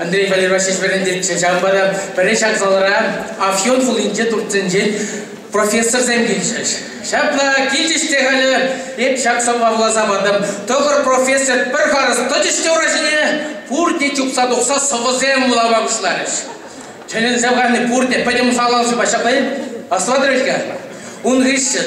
Андрей Валерьевич вӗрентетчӗ. Ҫавӑнпа та пӗрре ҫак залра Афьон хулинче туртсенчен профессорсем килчӗҫ. Ҫапла килчӗҫ те халӗ эп ҫак сӑвва вуласа патӑм. Тӑхӑр профессор пӗр харӑс тӑчӗҫ те ура ҫине, пурте чупса тухса сӑвӑсем вулама пуҫларӗҫ. Тӗлӗнсе пӑхасси пурте пӗтӗм залал ҫупа ҫапла-и? Аслатӑр-ха? Ун хыҫҫӑн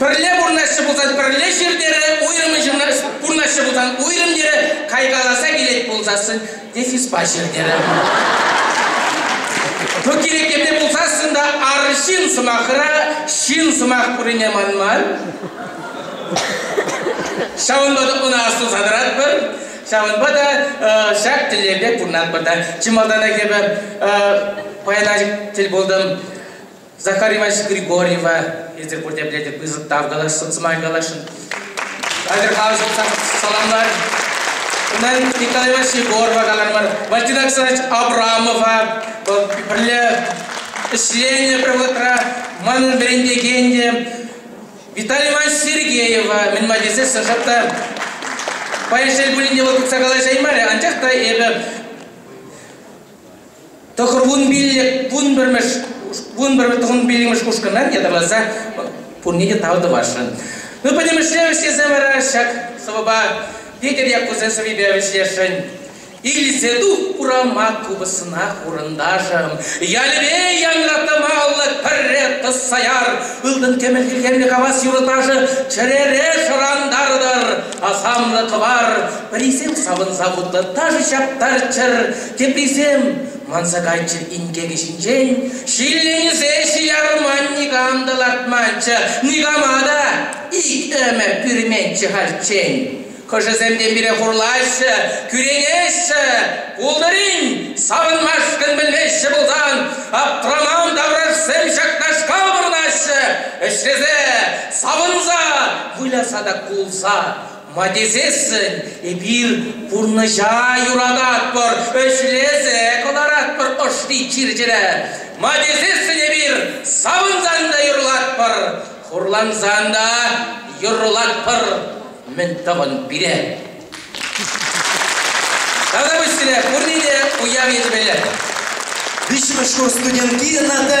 Пӗрле пурӑнаҫҫӗ пулсан пӗрле ҫыр терӗ, уйрӑмӗн ҫырна пурӑнаҫҫӗ пулсан уйрӑм терӗ, кайкаласа килет пулсассӑн дефиспа ҫыр терӗ. Ту кирек епле пулсассӑн та ар ҫын сӑмахра ҫын сӑмах пуррине манман. Ҫавӑнпа та ӑна асӑнса тӑратпӑр. Ҫавӑнпа та э, ҫак тӗллевпе пурӑнатпӑр та. Чи малтанах эпӗ э, паян тӗл пултӑм Захар Иванович Григорьева эсир пурте пӗлетӗр пысӑк тав калаш, сӑмай каласшӑн. Атӑрхаусов саламлар. Унтан Николай Иванович Егорова калармӑр, Валентин Александрович Абрамова. Вӑл пӗрле ӗҫленӗ пӗр вӑхӑтра манӑн вӗрентекен те Виталий Иванович Сергеева мӗн май тесе сӑшӑп та паян шел пулин те вӑл тытса калаҫаймарӗ, анчах та эпӗ тӑхӑр вун пиллӗкмӗш вун пиллӗкмӗш ушкӑна ятарласа пурне те тав тӑвасшӑн. Ну, пӗтӗмӗшле вӗҫлесе вара ҫак сӑвӑпа Петӗр Яккусен сӑввипе вӗҫлесшӗн. Илсе тух урама купӑсна хурӑнташӑм, ялӗпе янратамаллӑ пӗрре тӑсса яр, ылтӑн кӗмӗл тилхемлӗ кавас юрӑ-ташӑ чӗрере шӑрантартӑр, асамлӑ кӑвар, пӗрисем савӑнса вутлӑ ташӑ ҫаптарччӑр, Теприсем манса кайччӑр инкекӗ ҫинчен, ҫилленсе ҫиярман никам та лартманччӗ, никама та ик ӗмӗр пӳрменччӗ хальччен. Хӑшӗсем те пире хурлаҫҫӗ, кӳренеҫҫӗ, пултӑрин, савӑнмашкӑн пӗлмеҫҫӗ пулсан, аптраман таврашсем ҫакнашкал вырнаҫҫӗ, ӗҫлесе, савӑнса, выляса та кулса Ма тесессӗн эпир пурнӑҫа юрататпӑр, ӗҫлесе кӑларатпӑр ӑшри чир-чӗре. Ма тесессӗн эпир савӑнсан та юрлатпӑр, хурлансан та юрлатпӑр. Мӗн тӑвӑн пире? Тата пуҫсене пурне те уяв ячӗпе. Виҫҫӗмӗш курс студентки Наталья